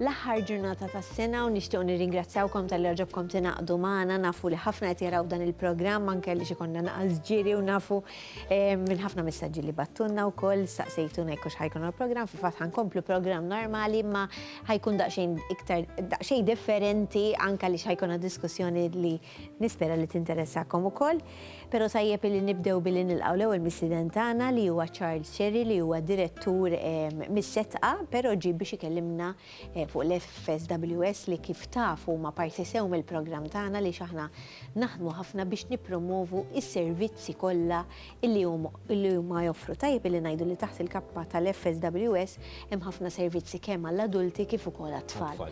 l-aħħar ġurnata tas-sena u nixtieq nirringrazzjawkom tal-li ġobkom tingħaqdu magħna nafu li ħafna qed jaraw dan il-programm anke li xi konna naqas ġiri u nafu Minn ħafna messaġġi li battunna wkoll staqsejtuna jekk hux ħajkun il-programm, fil-fatt ħankomplu programm normali imma ħajkun daqsxejn iktar daqsxejn differenti anke li ħajkuna diskussjoni li nispera li tinteressakom ukoll. Però tajjeb li nibdew billi nilqgħu l-ewwel mistieden tagħna li huwa Charles Cherry li huwa direttur mis-setqa, però ġie biex ikellimna fuq l-FSWS li kif taf huma parti sew mill-programm tagħna li x'aħna naħdmu ħafna biex nippromovu s-servizzi kollha li huma joffru. Tajjeb li ngħidu li taħt il-kappa tal-FSWS hemm ħafna servizzi kemm għall-adulti kif ukoll għat-tfal.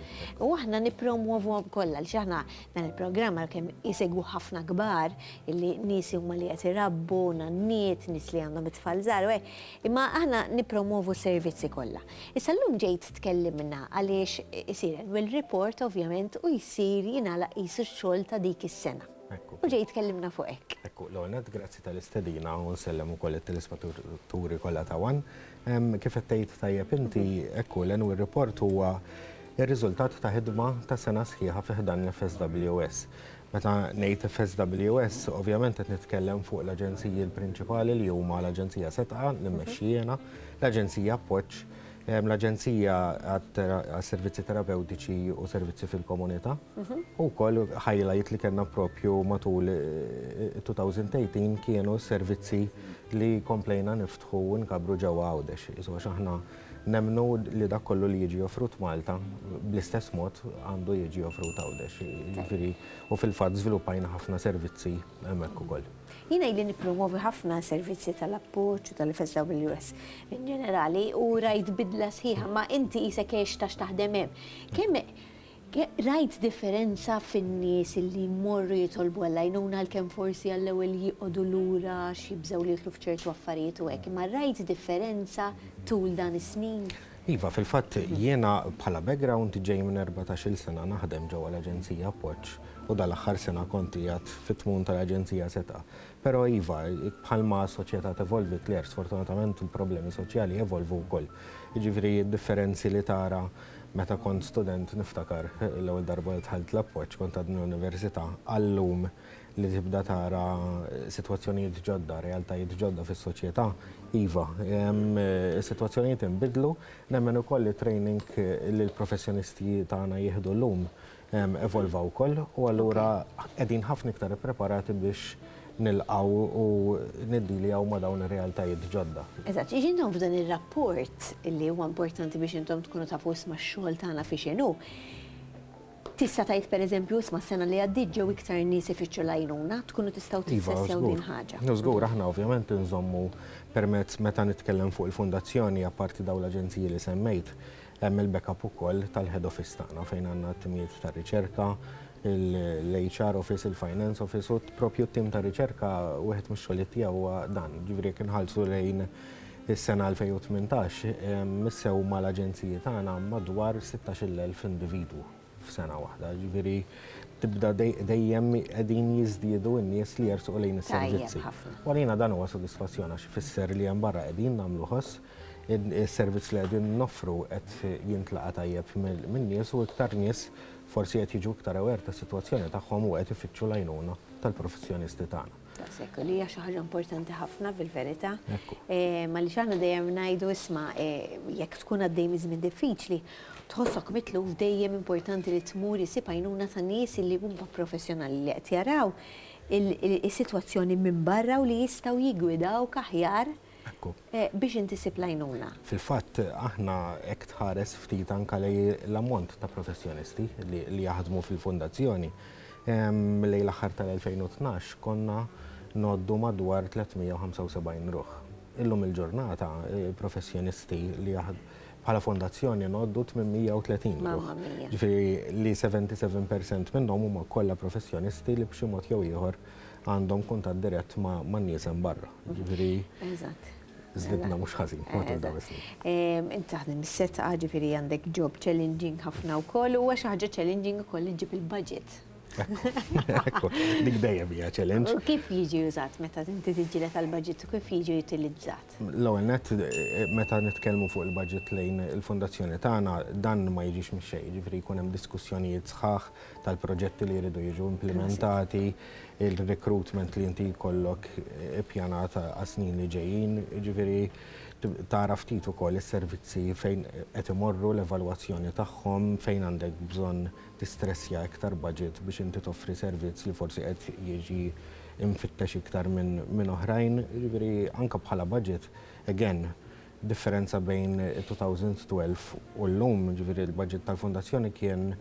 U aħna nippromovuhom kollha għaliex aħna dan il-programm għalkemm isegwu ħafna kbar li nies huma li qed irabbu, nanniet, nies li għandhom it-tfal żgħar u hekk, imma aħna nippromovu s-servizzi kollha. Issa llum ġejt tkellimna għaliex isir annual report ovvjament u jsir jingħalaq qisu x-xogħol ta' dik is-sena. Ekku. U ġejt tkellimna fuq hekk. Ekku, l-ewwel nett grazzi tal-istedina u nsellem ukoll it-telespettaturi kollha ta' one. Kif qed tgħid tajjeb inti, ekku, l-annual report huwa Ir-riżultat ta' ħidma ta' sena sħiħa fi ħdan l-FSWS. Meta ngħid FSWS, ovvjament qed nitkellem fuq l-aġenziji l-prinċipali li huma l-Aġenzija Setgħa li mmexxi jiena, l-Aġenzija Appoġġ, l-Aġenzija għas-Servizzi Terapewtiċi u Servizzi fil-Komunità, u wkoll highlight li kellna propju matul 2018 kienu s-servizzi li komplejna niftħu u nkabbru ġewwa Għawdex. Nemmnu li dak kollu li jiġi offrut Malta bl-istess mod għandu jiġi offrut Għawdex. Jiġifieri u fil-fatt żviluppajna ħafna servizzi hemmhekk ukoll. Jiena ili nippromovi ħafna servizzi tal-appoġġ u tal-FSWS in ġenerali u rajt bidla sħiħa, ma inti qisek għext għax taħdem hemm. Kemm Rajt differenza fin-nies li jmorru jitolbu għall-għajnuna għalkemm forsi għall-ewwel jieqogħdu lura għax jibżgħu li jidħlu f'ċertu affarijiet u hekk, imma rajt differenza tul dan is-snin? Iva, fil-fatt jiena bħala background ġej minn erbatax-il sena naħdem ġewwa l-Aġenzija Appoġġ u dal-aħħar sena kont qiegħed fit-tmun tal-Aġenzija Setgħa. Però iva, bħalma s-soċjetà tevolvi, Claire, sfortunatament il-problemi soċjali jevolvu wkoll. Jiġifieri d-differenzi li tara. Meta kont student niftakar l-ewwel darba li dħalt l-appoġġ kont għadni l-università għal-lum li tibda tara sitwazzjonijiet ġodda, realtajiet ġodda fis-soċjetà, iva, is-sitwazzjonijiet inbidlu, nemmen ukoll li t-training li l-professjonistji tagħna jieħdu llum evolva wkoll u allura qegħdin ħafna iktar ippreparati biex nilqgħu u niddiljaw ma' dawn ir-realtajiet ġodda. Eżatt, jiġifieri intom f'dan ir-rapport li huwa importanti biex intom tkunu tafu isma' x-xogħol tagħna fiex inhu, tista' tgħid pereżempju isma' s-sena li għaddiet ġew iktar nies ifittxu l-għajnuna, tkunu tistgħu tissessjaw din ħaġa. Iva, żgur, aħna ovvjament inżommu permezz meta nitkellem fuq il-Fondazzjoni apparti dawn l-aġenziji li semmejt, Hemm il-backup ukoll tal-head office tagħna fejn għandna t-timijiet ta' riċerka, il-HR office, il-finance office u proprju t-tim ta' riċerka wieħed mix-xogħlijiet tiegħu huwa dan. Jiġifieri jekk inħallsu lejn is-sena 2018, missew mal-aġenziji tagħna madwar 16-il elf individwu f'sena waħda. Jiġifieri tibda dejjem qegħdin jiżdiedu n-nies li jersqu lejn is-servizzi. U għalina dan huwa sodisfazzjon għax ifisser li hemm barra qegħdin nagħmlu ħoss Is-servizz li qegħdin noffru qed jintlaqa' tajjeb min-nies u iktar nies forsi qed jiġu iktar aware tas-sitwazzjoni tagħhom u qed ifittxu l-għajnuna tal-professjonisti tagħna. Daqshekk, u li hija xi ħaġa importanti ħafna fil-verità. Għaliex aħna dejjem ngħidu isma' jekk tkun għaddej minn żmien diffiċli, tħossok mitluf dejjem importanti li tmur issib għajnuna ta' nies li huma professjonali li qed jaraw is-sitwazzjoni minn barra u li jistgħu jiggwidawk aħjar biex int issib l-għajnuna. Fil-fatt, aħna jekk tħares ftit anke lejn l-ammont ta' professjonisti li jaħdmu fil-Fundazzjoni, lejn l-aħħar tal-2012 konna ngħoddu madwar 375 ruħ. Illum il-ġurnata professjonisti li bħala Fondazzjoni ngħoddu 830 ruħ. Mamma mia! Jiġifieri li 77% minnhom huma kollha professjonisti li b'xi mod jew ieħor għandhom kuntatt dirett ma' nies hemm barra. Ġifieri. Eżatt. Żdidna mhux ħażin matul dawn is-snin. Int taħdem is-setgħa, ġifieri għandek job challenging ħafna wkoll, huwa xi ħaġa challenging ukoll li ġġib il-budget. Ekku, dik dejjem hija challenge. U kif jiġi użat meta inti tiġġieled għall-budget u kif jiġi utilizzat? L-ewwel nett, meta nitkellmu fuq il-budget lejn il-fondazzjoni tagħna, dan ma jiġix mix-xejn, ġifieri jkun hemm diskussjonijiet sħaħ tal-proġetti li jridu jiġu implimentati. il-recruitment li inti jkollok ippjanat għas-snin li ġejjin, jiġifieri tara ftit ukoll is-servizzi fejn qed imorru, l-evalwazzjoni tagħhom, fejn għandek bżonn tistressja iktar budget biex inti toffri servizz li forsi qed jiġi mfittex iktar minn oħrajn, jiġifieri anke bħala budget, again, Differenza bejn 2012 u llum, jiġifieri l-baġit tal-Fondazzjoni kien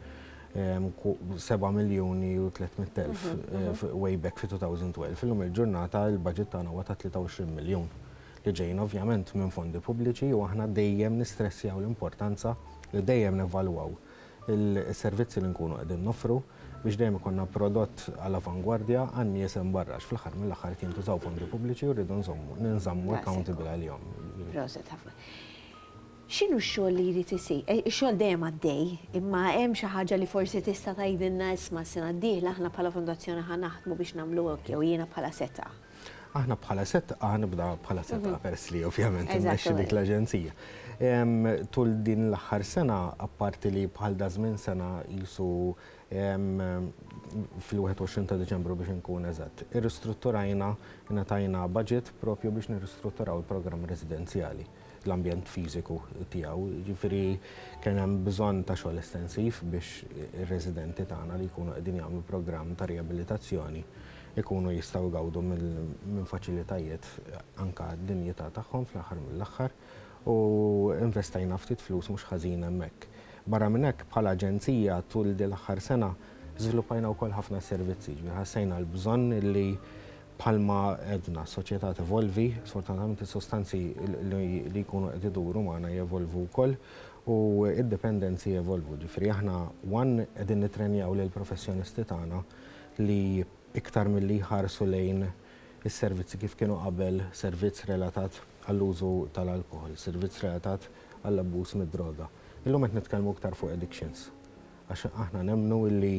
7 miljuni u 300 elf way back fi 2012. Illum il-ġurnata l-baġit tagħna huwa ta' 23 miljun li ġejjin ovvjament minn fondi pubbliċi u aħna dejjem nistressjaw l-importanza li dejjem nevalwaw is-servizzi li nkunu qegħdin noffru. biex dejjem ikollna prodott għal avangwardja għan-nies hemm barra għax fl-aħħar mill-aħħar qed jintużaw fondi pubbliċi u rridu nżommu ninżammu accountable għalihom. Proset ħafna. X'inhu x-xogħol li jrid isir? Ix-xogħol dejjem għaddej, imma hemm xi ħaġa li forsi tista' tgħidilna isma' s-sena d-dieħla aħna bħala fondazzjoni ħa naħdmu biex nagħmlu hekk jew jiena bħala setgħa. Aħna bħala setqa, nibda bħala setqa mhm. pers li ovvjament immexxi dik l-aġenzija. Tul din l-aħħar sena, apparti li bħal da żmien sena jisu fil-21 ta' Deċembru biex nkun eżatt. Irristrutturajna, natajna budget propju biex nirristrutturaw il-programm residenzjali. l-ambjent fiżiku tiegħu. Jiġifieri kien hemm bżonn ta' xogħol estensiv biex ir-residenti tagħna li jkunu qegħdin jagħmlu programm ta' riabilitazzjoni jkunu jistgħu jgawdu minn faċilitajiet anke għad-dinjità tagħhom fl-aħħar mill-aħħar u investejna ftit flus mhux ħażin hemmhekk. Barra minn hekk bħala aġenzija tul din l-aħħar sena żviluppajna wkoll ħafna servizzi, jiġifieri ħassejna l-bżonn li Bħalma għedna, s-soċjetà tevolvi, sfortunatament is-sustanzi li jkunu qed iduru magħna jevolvu wkoll u d-dipendenzi jevolvu. Jiġifieri aħna one qegħdin nittrenjaw lill-professjonisti tagħna li iktar milli jħarsu lejn is-servizzi kif kienu qabel, servizz relatat għall-użu tal-alkoħol, servizz relatat għall-abbuż mid-droga. Illum qed nitkellmu iktar fuq addictions għax aħna nemmnu li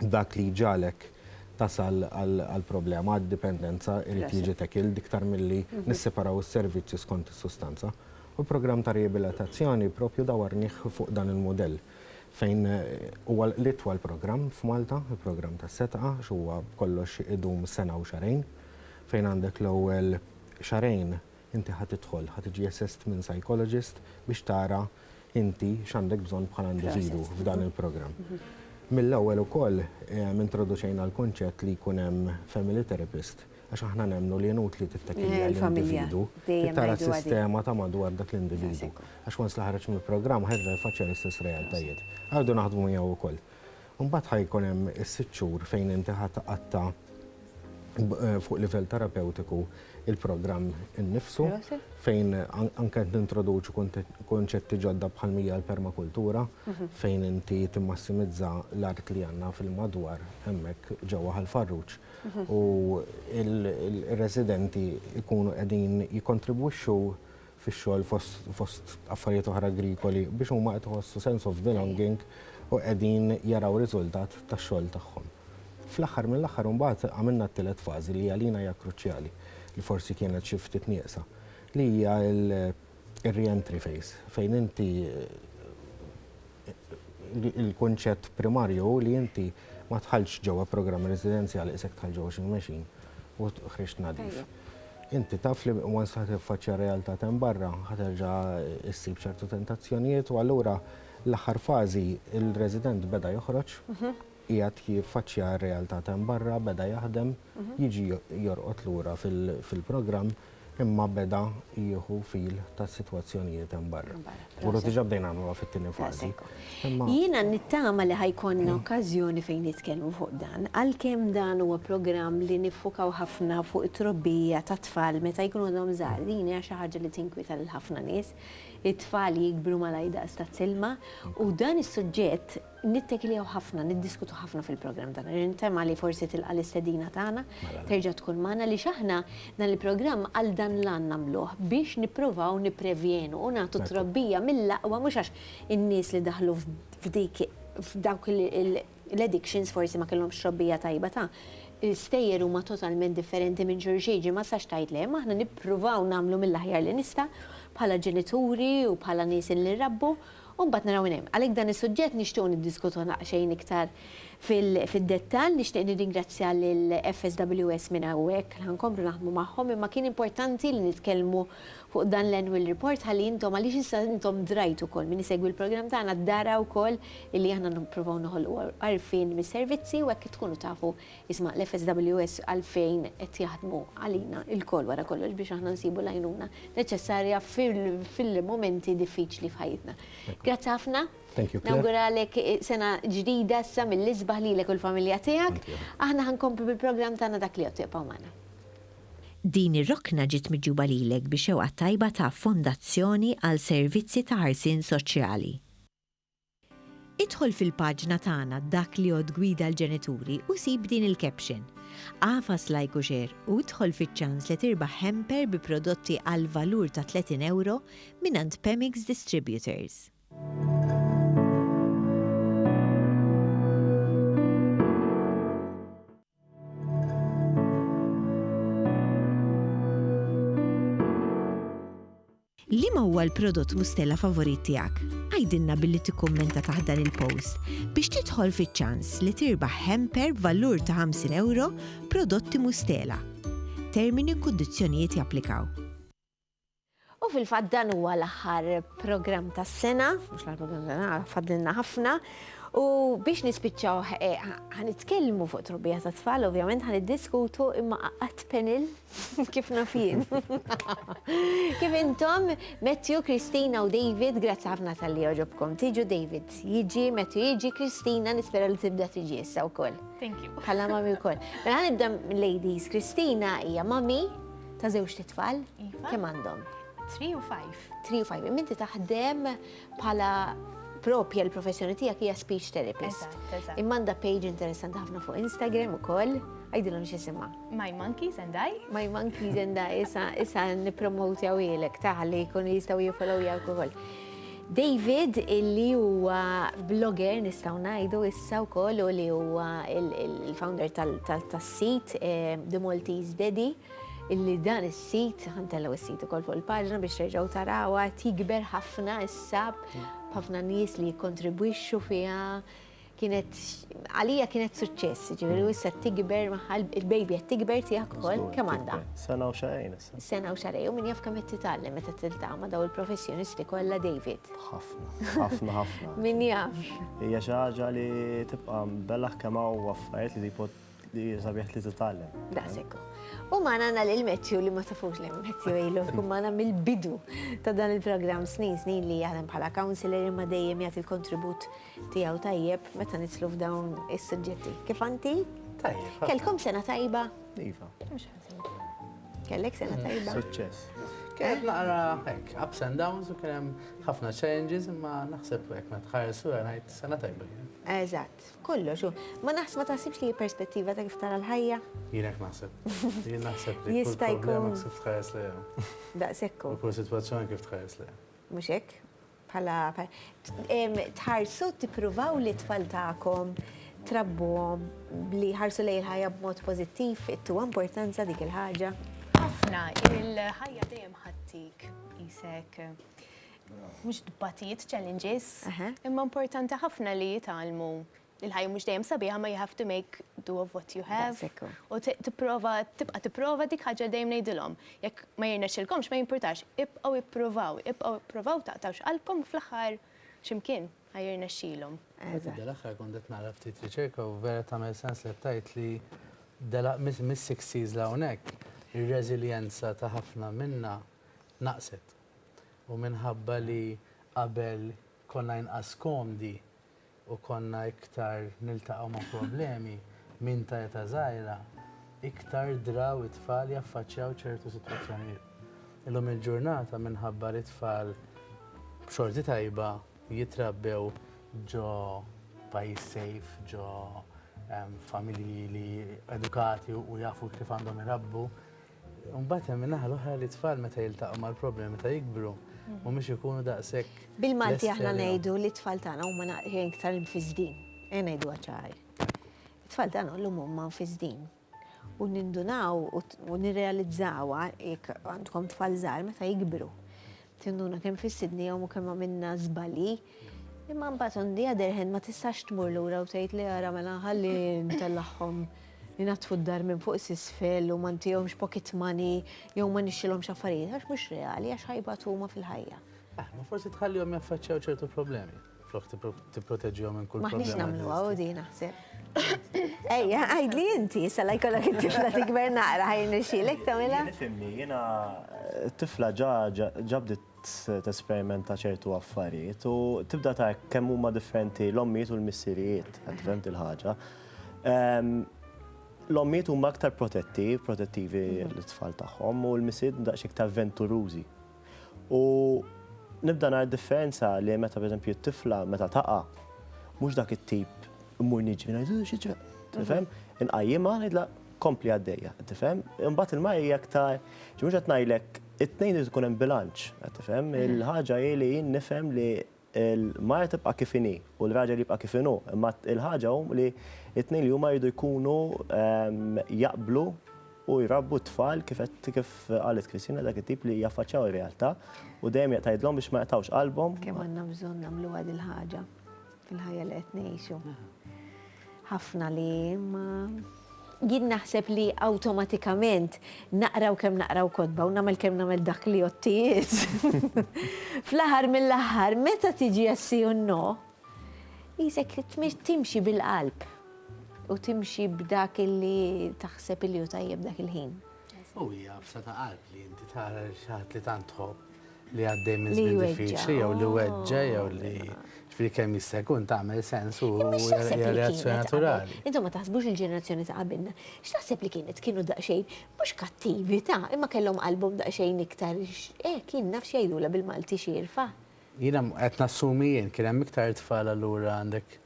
dak li jġagħlek tasal għall-problema, għad-dipendenza, irid jiġi tackled iktar milli nisseparaw is-servizzi skont is-sustanza. U l-programm ta' riabilitazzjoni proprju dawarnih fuq dan il-mudell fejn huwa l-itwal programm f'Malta, il-programm tas-setgħa, għax huwa b'kollox idum sena u xahrejn, fejn għandek l-ewwel xahrejn inti ħa tidħol, ħa tiġi assessed minn psychologist biex tara inti x'għandek bżonn bħala individwu f'dan il-programm. Mill-ewwel ukoll introduċejna l-kunċett li jkun hemm family therapist għax aħna nemmnu li inutli tittakilja l-individwu, tara s-sistema ta' madwar dak l-individwu. Għax once li ħareġ mill-programm ħerġa jfaċċja l-istess realtajiet. Għadu naħdmu miegħu wkoll. Imbagħad ħa jkun hemm is-sitt xhur fejn inti ħa tqatta' fuq livell terapewtiku il-programm innifsu fejn anke qed nintroduċu kunċetti ġodda bħal mija l-permakultura fejn inti timmassimizza l-art li għandna fil-madwar hemmhekk ġewwa Ħal Farruġ u r-residenti jkunu qegħdin jikkontribwixxu fix-xogħol fost affarijiet oħra agrikoli biex huma qed iħossu sense of belonging u qegħdin jaraw riżultat tax-xogħol tagħhom. Fl-aħħar mill-aħħar imbagħad għamilna t-tielet fażi li għalina hija kruċjali, li forsi kienet xi ftit nieqsa, li hija r-re-entry phase fejn inti il-kunċett primarju hu li inti ma tħallx ġewwa programm residenzjali isek tħall ġewwa xi mexin u ħriġt nadif. Inti taf li once ħa tiffaċċja r-realtà ta' hemm barra ħa terġa' issib ċertu tentazzjonijiet u allura l-aħħar fażi il-resident beda joħroġ. qiegħed jiffaċċja r-realtà t'hemm barra, beda jaħdem, jiġi jorqod lura fil-programm imma beda jieħu feel tas-sitwazzjonijiet hemm barra. Uru diġà bdejna nagħmluha fit-tieni fażi. Jiena nittama li ħa jkollna okkażjoni fejn nitkellmu fuq dan, għalkemm dan huwa programm li niffukaw ħafna fuq it-trobbija tat-tfal meta jkunu għadhom żgħar, din hija xi ħaġa li tinkwieta lil ħafna nies, it-tfal jikbru malajr daqs tazzilma u dan is-suġġett Nittekilew ħafna, niddiskutu ħafna fil-programm tagħna. Nintema li forsi tilqa' l-istedina tagħna, terġa' tkun magħna għaliex aħna dan il-programm għal dan l-għan nagħmluh, biex nipprovaw nipprevjenu u nagħtu trobbija mill-aqwa mhux għax in-nies li daħlu f'dik f'dawk l-addictions forsi ma kellhomx trobbija tajba ta', l-istejjer huma totalment differenti minn xulxin, ġifieri ma tistax tgħid le, imma aħna nippruvaw nagħmlu mill-aħjar li nista' bħala ġenituri u bħala nies li nrabbu, U mbagħad naraw minn hemm. Għalhekk dan is-suġġett nixtiequ niddiskutuh daqsxejn iktar fid-dettall. Nixtieq nirringrazzja lil FSWS minn hawnhekk li ħa nkomplu naħdmu magħhom imma kien importanti li nitkellmu fuq dan l-annual report ħalli intom għaliex issa intom drajtu wkoll min isegwi l-programm tagħna dara wkoll illi aħna nippruvaw noħolqu għarfien mis-servizzi u hekk tkunu tafu Isma' l-FSWS għalfejn qed jaħdmu għalina lkoll wara kollox biex aħna nsibu l-għajnuna neċessarja fil-mumenti diffiċli f'ħajjitna. Grazzi ħafna. Nawguralek sena ġdida issa mill-isbaħ lilek u l-familja tiegħek. Aħna ħa nkomplu bil-programm tagħna dak li jgħodd ibqgħu magħna. Din ir-rokna ġiet miġjuba lilek bi xewqa tajba ta' Fondazzjoni għal Servizzi ta' Ħarsien Soċjali. Idħol fil-paġna tagħna Dak li Għodd Gwida l-Ġenituri u sib din il-caption. Agħfas like u share u idħol fiċ-ċans li tirbaħ hamper bi prodotti għall-valur ta' 30 ewro mingħand Pemix Distributors. Liema huwa l-prodott Mustela favorit tiegħek? Għidilna billi tikkummenta taħt dan il-post biex tidħol fiċ-ċans li tirbaħ hamper b'valur ta' 50 ewro prodotti Mustela. Termini u kundizzjonijiet japplikaw. U fil-fatt dan huwa l-aħħar programm tas-sena, mhux l-aħħar programm tas-sena, fadlilna ħafna. U biex nispiċċaw eh, ħanitkellmu fuq trobbija ta' tfal, ovvjament ħaniddiskutu imma qatt penil Kif naf jien. Kif intom, Matthew, Kristina u David, grazzi ħafna tal-li oġobkom. Tiġu David, jiġi, Matthew, jiġi, Kristina, nispera li tibda tiġi issa u koll. Thank you. Bħala mami u koll. Mela nibda ladies, Kristina hija mami ta' zewġ titfal. Iva. Kemm għandhom? 3 u 5. 3 u 5. Minti taħdem Bħala propja l-professjoni tiegħek hija speech therapist. Eżatt, eżatt. Imma għandha page interessanti ħafna fuq Instagram ukoll, għajdilhom x'isimha. My Monkeys and I. My Monkeys and I, issa issa nippromotjaw ilek taħli jkunu jistgħu jifollow jawk ukoll. David illi huwa blogger nistgħu ngħidu issa wkoll u li huwa il-founder tal-sit eh, The Maltese Daddy. illi dan is-sit, ħantellgħu s-sit ukoll fuq il-paġna biex terġgħu tarawha, qed jikber ħafna issa b'ħafna nies li jikkontribwixxu fiha. Kienet għalija kienet suċċess, ġifieri issa tikber magħha il-baby qed tikber tiegħek ukoll kemm għandha. Sena u xarejn issa. Sena u xarejn u min jaf kemm qed titgħallem meta tiltama daw il-professjonisti kollha David. Ħafna, ħafna, ħafna. Min jaf. Hija xi ħaġa li tibqa' bella kemm hawn affarijiet li Li sabiħ li titgħallem. Daqshekk. U magħna għandna lil Matthew li ma tafux li Matthew ilu jkun magħna mill-bidu ta' dan il-programm snin snin li jaħdem bħala counselor imma dejjem jagħti l-kontribut tiegħu tajjeb meta nitlu f'dawn is-suġġetti. Kif anti? Tajjeb. Kelkom sena tajba? Iva. Kellek sena mm, tajba? Suċċess. Kienet naqra hekk, ups and downs u kien hemm ħafna challenges imma naħseb hekk ma tħares u ngħid sena tajba. Eżatt. F'kollox hu. Ma naħs ma taħsibx li hi perspettiva ta' kif tara l-ħajja? Jien hekk naħseb. Jien naħseb li kull problema kif tħares lejha. Daqshekk hu. U kull sitwazzjoni kif tħares lejha. Mhux hekk? Bħala tħarsu tippruvaw li t-tfal tagħkom trabbuhom li jħarsu lejn il-ħajja b'mod pożittiv, ittuha importanza dik il-ħaġa? Ħafna, il-ħajja dejjem ħadtik isek Mhux tbatijiet, challenges. Imma importanti ħafna li jitgħallmu il-ħajja mhux dejjem sabiħa ma you have to make do of what you have. U tipprova tibqa' tipprova dik ħaġa dejjem ngħidilhom. Jekk ma jirnexxilkomx ma jimpurtax, ibqgħu ippruvaw, ibqgħu ippruvaw taqtgħux qalbkom fl-aħħar x'imkien ħa jirnexxilhom. Dal-aħħar kont qed nara ftit riċerka u vera tagħmel sens li qed tgħid li mis-60s 'l hawnhekk ir-reżiljenza ta' ħafna minna naqset. U minħabba li qabel konna inqas komdi u konna iktar niltaqgħu ma' problemi minn ta' età żgħira, iktar draw it-tfal jaffaċċjaw ċertu sitwazzjonijiet. Illum il-ġurnata minħabba li t-tfal b'xorti tajba jitrabbew ġo pajjiż safe, ġo familji li edukati u jafu kif għandhom irabbu, Mbagħad hemm in-naħa l-oħra li t-tfal meta jiltaqgħu mal-problemi meta jikbru mhumiex ikunu daqshekk. Bil-Malti aħna ngħidu li t-tfal tagħna huma naqrien iktar imfiżdin. Ejja ngħiduha ċar. It-tfal tagħna llum huma mfiżdin. U nindunaw u nirrealizzawha jekk għandkom tfal żgħar meta jikbru. Tinduna kemm fissitnihom u kemm għamilna żbalji, imma mbagħad on the other hand ma tistax tmur lura u tgħid li ara mela ħalli ntellagħhom inaddfu d-dar minn fuq s'isfel u ma ntihomx pocket money jew ma nixtrilhomx affarijiet għax mhux reali għax ħajbatu huma fil-ħajja. Ah, ma forsi tħallihom jaffaċċjaw ċertu problemi. Flok tipproteġihom minn kull problema. Maħniex nagħmluha u din naħseb. Ejja, għajdli inti, sala jkollok it-tifla tikber naqra ħajn ixilek tagħmilha. Nifhimni, jiena eh, tifla ġa ġabdiet tesperimenta ċertu affarijiet u tibda ta' kemm huma differenti l-ommijiet u l-missirijiet, qed fehmt il-ħaġa. Ehm, l-ommijiet huma aktar protetti, protettivi mhm. l-tfal tagħhom u l-missijiet daqs iktar venturużi. U nibda nara differenza li meta pereżempju t-tifla meta taqa' mhux dak it-tip mmur niġri ngħid xi ġra. Tifhem? Inqajjimha ngħidla kompli għaddejja, tifhem? Imbagħad il-mara hija aktar mhux qed ngħidlek it-tnejn irid ikun hemm bilanċ, qed tifhem? Il-ħaġa hi li jien nifhem li Il-mara tibqa' kif inhi u l-raġel jibqa' kif inhu, imma l-ħaġa hu li t-tnejn li huma jridu jkunu jaqblu u jrabbu t-tfal kif qalet Christina dak it-tip li jaffaċċjaw ir-realtà u dejjem tgħidilhom biex ma jaqtgħux qalbhom. Kemm għandna bżonn nagħmluha dil-ħaġa fil-ħajja li qed ngħixu. Ħafna li ma jien naħseb li awtomatikament naqraw kemm naqraw kotba u nagħmel kemm nagħmel dak li jottijiet. Fl-aħħar mill-aħħar meta tiġi jessi u no, jisek timxi bil-qalb u timxi b'dak illi taħseb illi u tajjeb dak il-ħin. U hija fsa ta' qalb li inti tara xaħat li tant tħobb li għaddej minn żmien diffiċli jew li weġġa' jew li ġifieri kemm jista' jkun tagħmel sens u hija reazzjoni naturali. Intom ma taħsbux il-ġenerazzjoni ta' qabilna, x'taħseb li kienet kienu daqsxejn mhux kattivi ta' imma kellhom qalbhom daqsxejn iktar hekk jien naf x'jgħidulha bil-Malti xierfa. Jiena qed nassumi jien kien hemm iktar tfal allura għandek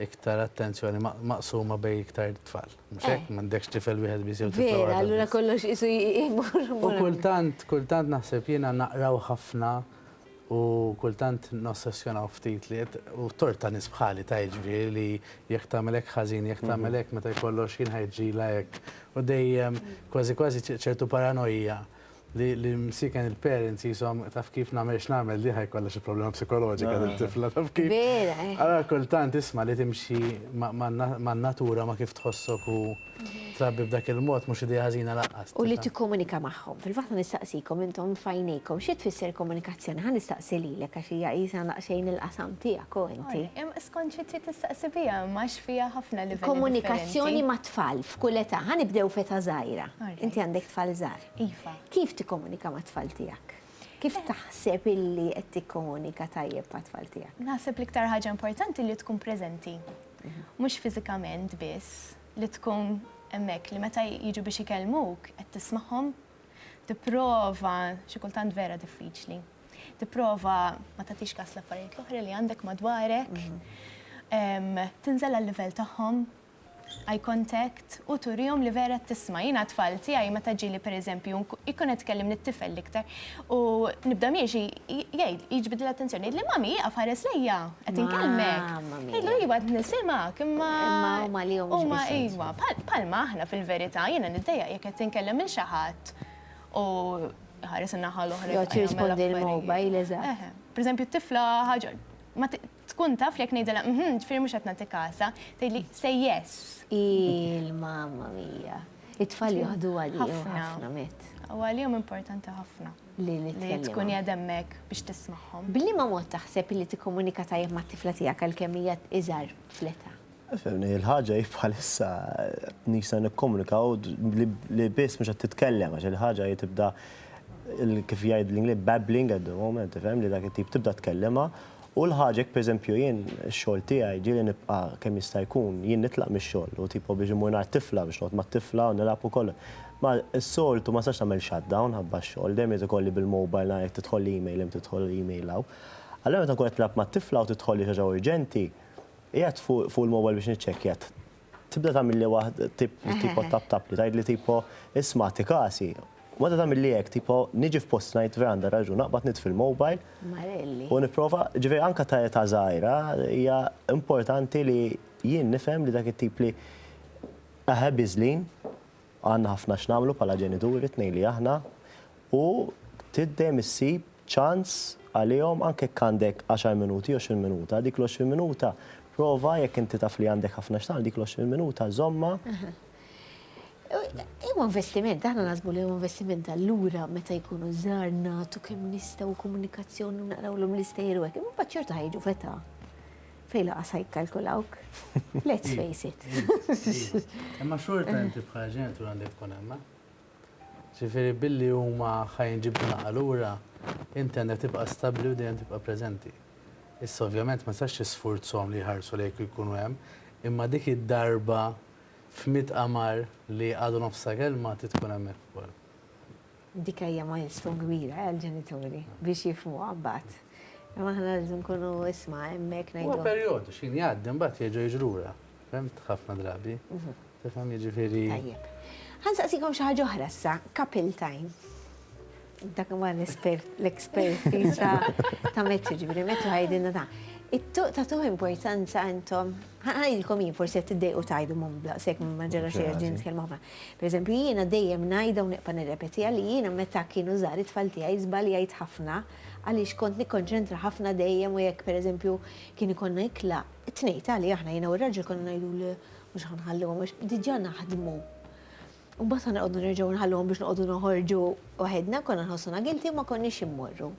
iktar attenzjoni maqsuma bejn iktar tfal. Mhux hekk? M'għandekx tifel wieħed biss jew tifla waħda. Vera, allura kollox qisu jmur. U kultant, kultant naħseb jiena naqraw ħafna u kultant nossessjonaw ftit li qed u tort ta' nies bħali ta' jiġifieri li jekk tagħmel hekk ħażin, jekk tagħmel hekk meta jkollok x'ħin ħa jġrilha hekk. U dejjem kważi kważi ċertu paranojja. li l-imsieken il-parents qishom taf kif nagħmel x'nagħmel di ħa jkollha xi problema psikoloġika dil-tifla taf kif. Vera, eh. Allura kultant isma' li timxi man-natura ma' kif tħossok u trabbi b'dak il-mod mhux idea ħażina lanqas. U li tikkomunika magħhom. Fil-fatt ħa nistaqsikom intom f'għajnejkom xi tfisser komunikazzjoni? Ħa nistaqsi lilek għax hija qisha daqsxejn il-qasam tiegħek u inti. Imma skont xi trid tistaqsi biha imma għax fiha ħafna livelli differenti. Komunikazzjoni mat-tfal f'kull età. Ħa nibdew f'età żgħira. Inti għandek tfal żgħar. Iva. Kif tikkomunika mat-tfal tiegħek? Kif taħseb illi qed tikkomunika tajjeb mat-tfal tiegħek? Naħseb l-iktar ħaġa importanti li tkun preżenti. Mhux fiżikament biss, li tkun hemmhekk li meta jiġu biex ikellmuk qed tismagħhom, tipprova, xi kultant vera diffiċli, tipprova ma tagħtix kas l-affarijiet l-oħra li għandek madwarek, tinżel għal-livell tagħhom, eye contact, u turihom li vera qed tisma'. Jiena t-tfal tiegħi meta ġieli per eżempju jkun qed ikellim lit-tifel l-iktar u nibda miexi jgħid, jiġbidli l-attenzjoni, jgħidli Mummy ieqaf ħares lejja, qed inkellmek. Ngħidlu iva qed nisimgħek imma huma iva. Bħalma aħna fil-verità, jiena niddejjaq jekk qed inkellem lil xi ħadd u iħares in-naħa l-oħra. Joqgħod jirrispondi l-mobile, eżatt. Per eżempju t-tifla ħaġa, Tkun taf li jekk ngħidilha mhm, ġifieri mhux qed nagħtik għasa, tgħidli say yes. Il mamma mia. It-tfal joħdu għalihom ħafna Matt. U għalihom importanti ħafna. Li nitkellmu. Li tkun qiegħed hemmhekk biex tismagħhom. B'liema mod taħseb li tikkomunika tajjeb mat-tifla tiegħek għalkemm hija iżgħar fl-età? Fehmni, il-ħaġa hi bħalissa nisa nikkomunikaw li biss mhux qed titkellem għax il-ħaġa hi tibda kif jgħid l-Ingliż babbling at the moment, tifhem li dak it-tip tibda tkellimha u l-ħaġa jekk pereżempju jien ix-xogħol tiegħi ġieli nibqa' kemm jista' jkun jien nitlaq mix-xogħol u tipo biex immur ngħand tifla biex noqgħod mat-tifla u nilgħab u kollox. Ma s-soltu ma nistax nagħmel shutdown ħabba x-xogħol, dejjem irid ikolli bil-mobile nara jekk tidħolli email hemm tidħolli email hawn. Allura meta nkun qed nilgħab mat-tifla u tidħolli xi ħaġa urġenti, Qiegħed fuq il-mobile biex niċċekkja. Tibda tagħmilli waħda tipo tap tap li tgħidli tipo isma' tikasi. Meta tagħmilli hekk tipo niġi f'post ngħid vera għandha raġun naqbad nitfi' l-mobile. Marelli. U nipprova, ġifieri anke ta' età żgħira hija importanti li jien nifhem li dak it-tip li aħe biżlin. Għandna ħafna x'nagħmlu bħala ġenituri t-tnejn li aħna u trid dejjem issib ċans għalihom anke jekk għandek għaxar minuti, għoxrin minuta. Dik l-għoxrin minuta prova jekk inti taf li għandek ħafna x'tagħmel dik l-għoxrin minuta żommha. Huwa investiment, aħna naħsbu li huwa investiment allura meta jkunu żgħar nagħtu kemm nistgħu komunikazzjoni naqrawlhom l-istejjer u hekk. Imma ċertu ħajġu feta. Fej laqas ħajkalkulawk. Let's face it. Imma xorta inti bħala ġenitur għandek tkun hemma. Ġifieri billi huma ħajn ġibdu naqa' lura, inti għandek tibqa' stabbli u dejjem tibqa' preżenti. Issa ovvjament ma sax tisfurzhom li jħarsu lejk u jkunu hemm, imma dik id-darba f'mitt qamar li għadu nofsa kelma trid tkun hemmhekk ukoll. Dik hija milestone kbira għall-ġenituri biex jifhmuha mbagħad. Imma aħna rridu nkunu isma' hemmhekk ngħidu. Huwa perjodu, x'ħin jgħaddi mbagħad jerġa' jiġi lura. Fhimt? Ħafna drabi. Tifhem, jiġifieri. Tajjeb. Ħa nsaqsikom xi ħaġa oħra issa, couple time. Dak huwa l-expertise ta' Matthew, ġifieri Matthew ħa jgħidilna dan. It-tuq tagħtuh importanza intom? Ngħidilkom jien, forsi qed tiddejqu tgħidu mhmm daqshekk ma ġara xejn għax din nitkellmu ħafna. Pereżempju jiena dejjem ngħidha u neqpa' nirrepetiha li jiena meta kienu żgħar it-tfal tiegħi żbaljajt ħafna għaliex kont nikkonċentra ħafna dejjem u jekk pereżempju kien ikollna ikla t-tnejn tali aħna jiena u r-raġel konna ngħidu le mhux ħa nħalluhom għax diġà naħdmu. U mbagħad konna nqogħdu nerġgħu nħalluhom biex noqogħdu noħorġu waħedna, konna nħossuna guilty u ma konniex immorru.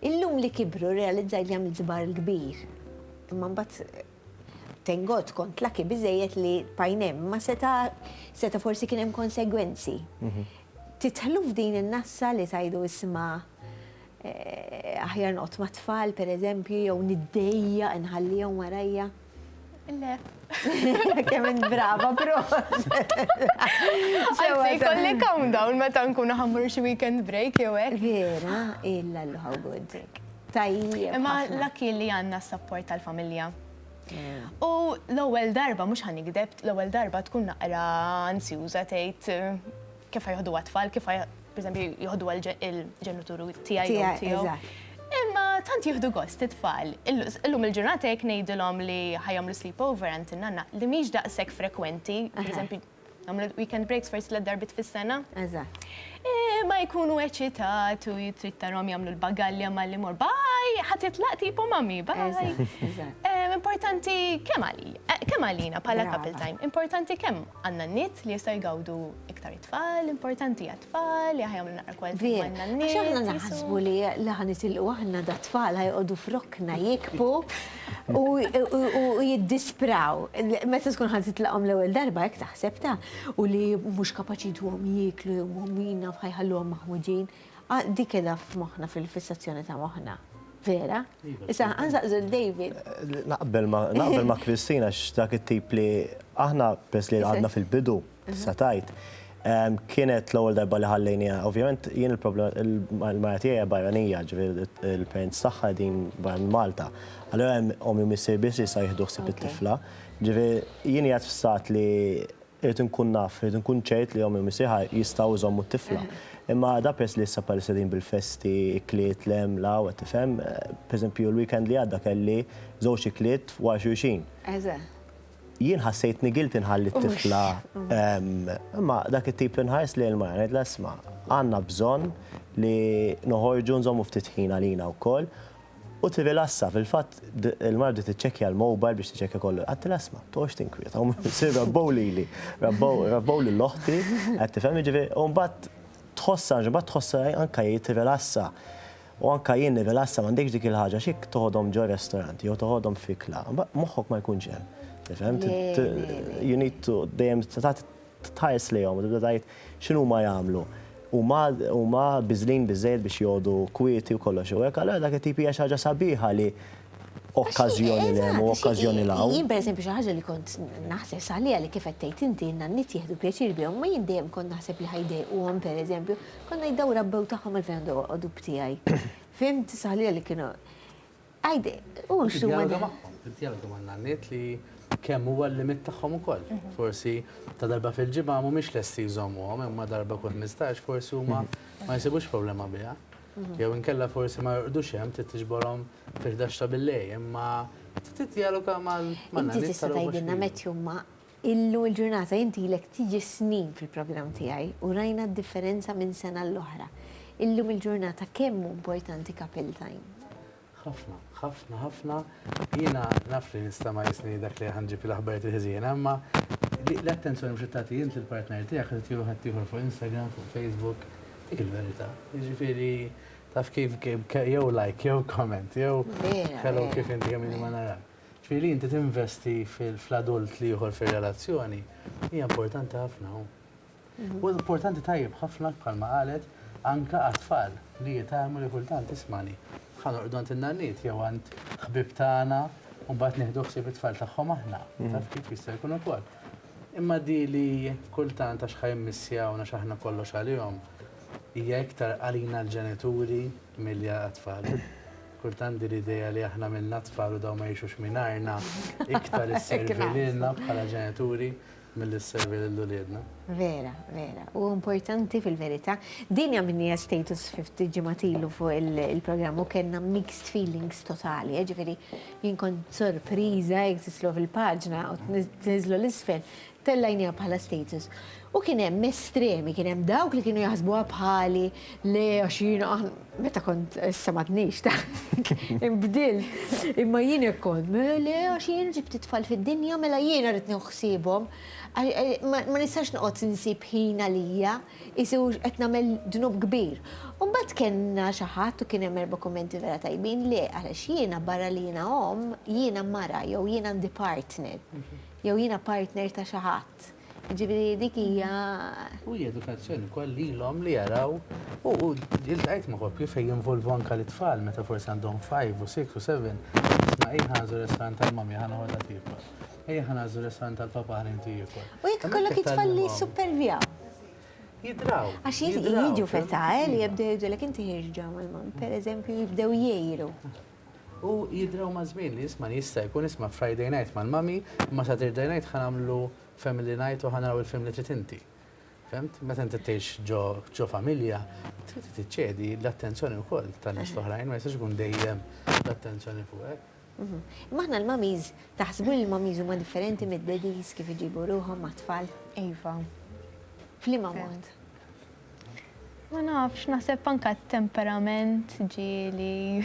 Illum li kibru rrealizzajt li għamilt żbar kbir. Imma mbagħad thank God kont laki biżejjed li pajnem ma seta seta forsi kien hemm konsegwenzi. Mhm. Titħlu f'din in-nassa li tajdu isma eh, aħjar noqgħod ma' tfal pereżempju jew niddejja nħallihom warajja. Le. Kemm brava, proset. Għajzi, kolli calm down meta nkunu ħammur xi weekend break jew hekk. Vera, illa l-ħawgud. Tajjeb. Imma l-akki li għandna s-sapport tal-familja. U l-ewwel darba mhux ħanikdeb, l-ewwel darba tkun naqra ansjuża tgħid kif ħajħdu għat-tfal, kif per eżempju jħoddu għal-ġenituru tijaj tijaw. Imma tant jihdu gost it-tfal. Illum il-ġurnata jek nejdilom li ħajam li sleepover għant nanna li miex daqsek frekwenti, per eżempju, għamlu weekend breaks forsi l-darbit fis-sena. Eżatt. E, ma jkunu eċitat u jitrittarom jamlu l-bagalja ma li mor, baj, ħat jitlaq tipo mami, baj. Importanti kemm għalina, kemm għalina pala couple time, importanti kemm Għandna n-nit li jistgħu jgawdu iktar it-tfal, importanti għat-tfal, li ħajamlu naqra kwalità għandna n-nit. Għax aħna naħsbu li li ħanitilqu aħna da tfal ħajqogħdu frokna jikbu u jiddispraw. Meta tkun ħan titlaqhom l-ewwel darba hekk taħseb ta' u li mhux kapaċi jduhom jieklu jew huma jaf ħajħalluhom maħmudin. Ah, di keda f'moħħna fil-fissazzjoni ta' moħħna. Vera? Issa, għanżaqżu l-David. Naqbel ma' Kristina x'dak it-tip li aħna pers li għadna fil-bidu, satajt, kienet l-ewwel darba li ħallejnija. Ovvjament, jien il-problema, il-marja tiegħi barranija, ġifieri il-parents tagħha din barra minn Malta. Allura hemm omi missier biss jista' jieħdu ħsieb it-tifla. Ġifieri jien jgħid f'sat li Irrid inkun naf, irrid inkun ċert li omm jew missieħa jistgħu jżommu t-tifla. Imma da peress li issa bħalissa qegħdin bil-festi, ikliet, l-hemm, l-hawn, qed tifhem, pereżempju l-weekend li għadda kelli żewġ ikliet wara xulxin. Jien ħassejtni guilty nħalli t-tifla, imma dak it-tip li nħares lejn il-mara ngħidilha isma' għandna bżonn li noħorġu nżommu ftit ħin għalina wkoll U tirrilassa, fil-fatt il-mara bdiet tiċċekkja l-mobile biex tiċċekkja kollu. Għadtilha isma', toqgħodx tinkwieta, huma missier rabbow lili, rabbow lil oħti, qed tifhem, jiġifieri, u mbagħad tħossha, mbagħad tħossha anke hi tirrilassa. U anke jien nirrilassa, m'għandekx dik il-ħaġa, xi jekk toħodhom ġo restorant jew toħodhom fikla, moħħok ma jkunx hemm, tifhem? You need to, dejjem, Tħares lejhom u tibda tgħid, x'inhuma jagħmlu? Huma, huma biżlin biżżejjed biex jgħodu kwieti u kollox u hekk. Allura dak it-tip hija xi ħaġa sabiħa li okkażjoni 'l hemm u okkażjoni 'l hawn. Jien pereżempju xi ħaġa li kont naħseb saħliha li kif qed tgħid inti, n-nanniet jieħdu pjaċir bihom, imma jien dejjem kont naħseb li ħa jdejquhom pereżempju, kont ngħid dawn rabbew tagħhom għalfejn għandhom joqogħdu b'tiegħi. Fhimt? Saħliha li kienu. Għajdi, u x'huma. Tiddjaloga magħhom, tiddjaloga man-nanniet li kemm huwa l-limit tagħhom ukoll. Forsi ta' darba fil-ġimgħa mhumiex lesti jżommuhom imma darba kull ħmistax forsi huma ma jsibux problema biha. Jew inkella forsi ma jorqdux hemm trid tiġborhom fil-ħdax ta' billejl imma tiddjaloga man-nanniet tara huma x'inhu. Inti tista' tgħidilna meta huma Illum il-ġurnata inti ilek tiġi snin fil-programm tiegħi u rajna d-differenza minn sena l-oħra. Illum il-ġurnata kemm hu importanti Capel Time? Ħafna, ħafna, ħafna. Jiena naf li nista' ma jisni dak li ħa nġib l-aħbarijiet il-ħżiena, imma l-attenzjoni mhux qed tagħti int lill-partner tiegħek qed tagħtiha ħaddieħor fuq Instagram, fuq Facebook. Dik il-verità. Jiġifieri taf kif jew like, jew comment, jew hello kif inti kemm ilna ma narak. Ġifieri li inti tinvesti fl-adult l-ieħor fir-relazzjoni hija importanti ħafna. U importanti tajjeb ħafna bħalma qalet anke għat-tfal li jitgħallmu li kultant ismani. Ħa norqdu għand in-nanniet jew għand ħbieb tagħna u mbagħad nieħdu ħsieb it-tfal tagħhom aħna. Taf kif jista' jkun ukoll. Imma di li kultant għax ħa jimmissjawna għax aħna kollox għalihom hija iktar għalina l-ġenituri Milja għat-tfal. Kont għandi l-idea li aħna għamilna t-tfal u dawn ma jgħixux mingħajrna, iktar isservi lilna bħala ġenituri milli sservi lil uliedna. Vera, vera. U importanti fil-verità. Din għamilniha status ftit ġimgħat ilu fuq il-programm u kellna mixed feelings totali. Ġifieri jien kont sorpriża jekk tislu fil-paġna u tniżlu l-isfel Tellajniha bħala status. U kien hemm estremi, kien hemm dawk li kienu jaħsbuha bħali, le għax jiena aħna, meta kont issa m'għadniex ta' inbdilt. Imma jien hekk kont, le għax jien ġibt it-tfal fid-dinja mela jiena rrid nieħu ħsiebhom. Ma nistax noqgħod insib ħin għalija, qisu qed nagħmel dnub kbir. U mbagħad kellna xi ħadd u kien hemm erba' kummenti vera tajbin, le għaliex jiena barra li jiena omm, jiena mara jew jiena għandi partner. Jew jiena partner ta' xi ħadd. Jiġifieri dik hija. U hija edukazzjoni wkoll lilhom li jaraw u iltqajt ma' koppji fejn jinvolvu anke lit-tfal meta forsi għandhom five u six u seven, isma' ejja ħa nagħżlu r-restaurant tal-mommy ħa noħodha tiekol. Ejja ħa nagħżlu r-restaurant tal-papà ħalli inti jiekol. U jekk ikollok it-tfal li jissupervjaw. Jidraw. Għax jiġu f'età, eh, li jibdew jgħidulek inti ħirġ ġew mal-mom. Pereżempju jibdew jgħiru. U jidraw maż-żmien li jisman jista' jkun isma' Friday night mal-mommy, imma Saturday night ħa nagħmlu family night u ħa naraw il-film li trid inti. Fhemt? Meta inti tgħix ġo familja, trid tiċċedi l-attenzjoni wkoll tan-nies l-oħrajn, ma jistax ikun dejjem l-attenzjoni fuqek. Imma aħna l-mummies, taħsbu li l-mummies huma differenti mid-daddies kif iġibu ruħhom mat-tfal? Iva. F'liema mod? Ma nafx, naħseb anka t-temperament ġieli.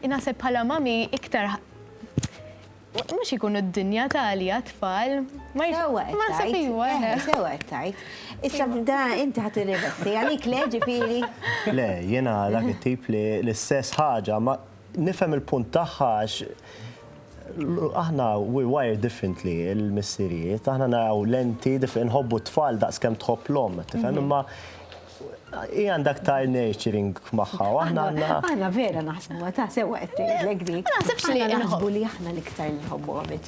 Naħseb bħala mami iktar mhux ikunu d-dinja tali għat-tfal. Ma naħseb iwa. Sewa qed tgħid. Issa da inti ħadd irrivesti għalik le ġifieri. Le, jiena dak it-tip li l-istess ħaġa Nifhem il-punt tagħha għax aħna we're wired differently il-missirijiet, aħna naraw lenti, nħobbu t-tfal daqs kemm tħobb l-omm, tifhem mhm. imma i għandha aktar nurturing magħha. Aħna aħna vera naħsbu ta' sewa qed tgħidlek dik. Naħsibx li naħsbu li aħna l-iktar li nħobbu għamit.